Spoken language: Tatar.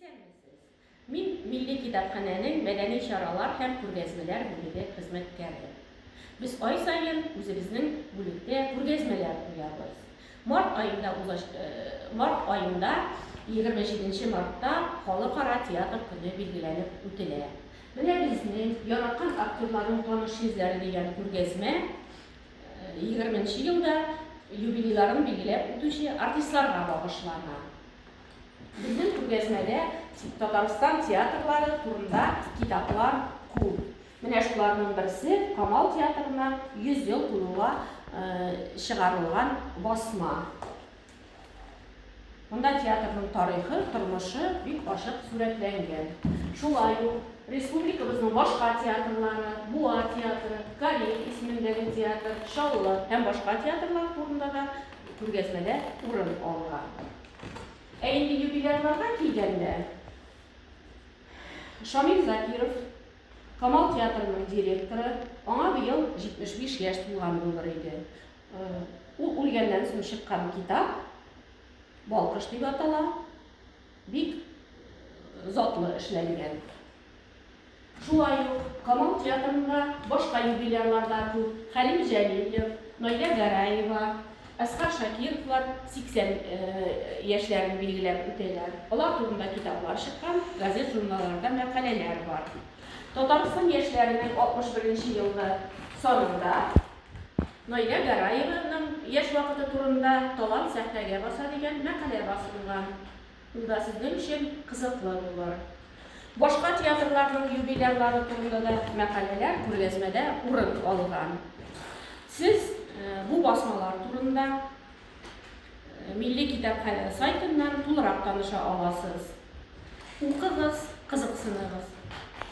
Исәнмесез! Мин Милли китапханәнең мәдәни чаралар һәм күргәзмәләр бүлеге хезмәткәре. Без ай саен үзебезнең бүлектә күргәзмәләр куябыз. Март аенда узач март аенда, егерме җиденче мартта Халыкара театр көне билгеләнеп үтелә. Менә безнең Яраткан актерларның таныш йөзләре дигән күргәзмә егерменче елда юбилейларын билгеләп үтүче артистларга багышлана. Безнең күргәзмәдә Татарстан театрлары турында китаплар күп. Менә шуларның берсе, Камал театрына 100 ел тулуга чыгарылган басма. Монда театрның тарихы, тормышы бик ачык сурәтләнгән. Шулай ук республикабызның башка театрлары, Буа театры, Кариев исемендәге театр, Чаллы һәм башка театрлар турында да күргәзмәдә урын алган. Ә инде юбилярларга килгәндә, Шамил Закиров, Камал театрының директоры, аңа быел 75 яшь тулган булыр иде. Ул үлгәннән соң чыккан китап, Балкыш дип атала, бик затлы эшләнгән. Шулай ук Камал театрында башка юбилярлар да күп, Хәлим Җәлилов, Наилә Гәрәева, Әсхар Шакировлар 80 яшьләрен билгеләп үтәләр. Алар турында китаплар чыккан, газет-журналларда мәкаләләр бар. Татарстан яшьләренең 61 нче елгы санында Наилә Гәрәеваның яшь вакыты турында Талант сәхнәгә баса дигән мәкалә басылган. Ул да сезнең өчен кызыклы булыр. Башка театрларның юбилярлары турында да мәкаләләр күргәзмәдә урын алган. Сез бу басмалар турында Милли китапханә сайтыннан тулырак таныша аласыз. Укыгыз, кызыксыныгыз.